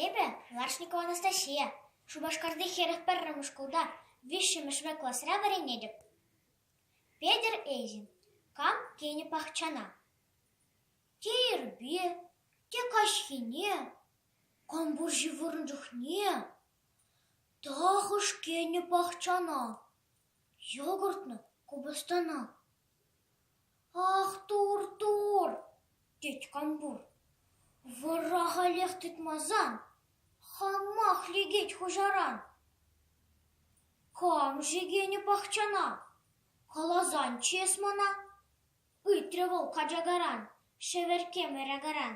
Эпӗ Ларшникова Анастасия, Шупашкарти хӗрӗх пӗрремӗш шкулта виҫҫӗмӗшре класра вӗренетӗп. Петӗр Эйзин кам тенӗ пахчана? Те ирпе, те каҫхине, кампурҫи вырӑн чухне тахӑш кӗнӗ пахчана? Йогуртну купӑстана. «Ах, тур, тур!» тет Кампур. «Вӑрра халех тытмасан, хамах лекет хуҫаран. Кам ҫекенӗ пахчана? Каласан чес мана!» ыйтрӗ вӑл качакаран, шӗверкем ыракаран.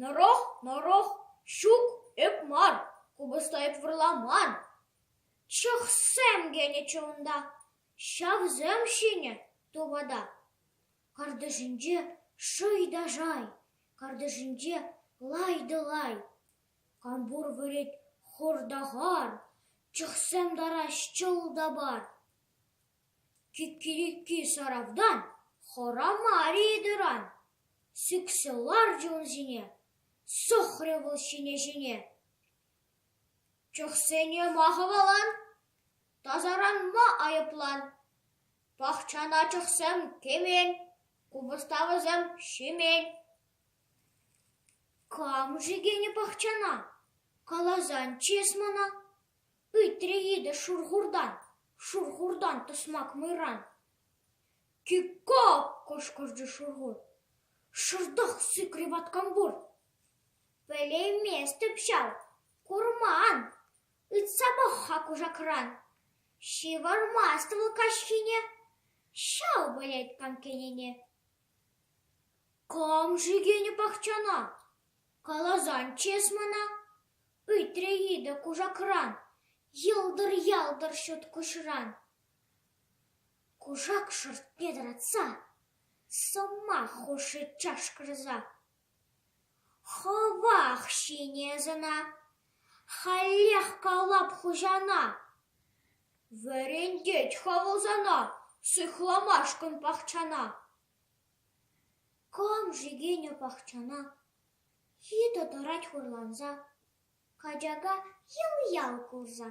Нӑрӑх, нӑрӑх, ҫук, эп мар, купӑста эп вырламан. Чӑхсем кӗнӗччӗ унта, ҫавсем ҫинӗ тупата. Картишӗнче шый та шай, картишӗнче лай та лай. Кампур вырет хӑр та хар, чӑхсем тараҫ чӑл та пар. Киккикки шаравтан хӑра мар-и ытыран? сӳксе ларчӗ ун ҫине, сӑхрӗ вӑл ҫине-ҫине. Чӑхсене ма хӑвалан? Тасаранма айӑплан. Пахчана чӑхсем кӗмен, купӑста вӗсем ҫимен. Кам-ши кӗнӗ пахчана? Каласан чыс мана. Ыйтрӗ йытӑ шурхуртан, шурхуртан тӑсмак мӑйран. «Кикко!» — кӑшкӑрчӗ шурхур. «Шӑртах сикрӗ ваткампур!» «Пӗлейместӗп ҫав, курман, ыйтса пӑх-ха кушакран, ҫывӑрмасть вӑл каҫхине, ҫав пӗлет канккенене». «Кам шикенӗ пахчана? Каласан чес мана!» Ыйтрӗ йытӑ кушакран, йӑлтӑр-ялтӑр ҫут куҫран. Кушак шӑртне тӑратса, сӑмах хушрӗ чашкӑрса. Хӑвах ҫини ӑсана, халех калап хуҫана. Вӗрентет-ха вӑл сана сыхламашкӑн пахчана. Кам-ши Геня пахчана? Ҫитӑ тӑрать хурланса, качака ял-ял курса.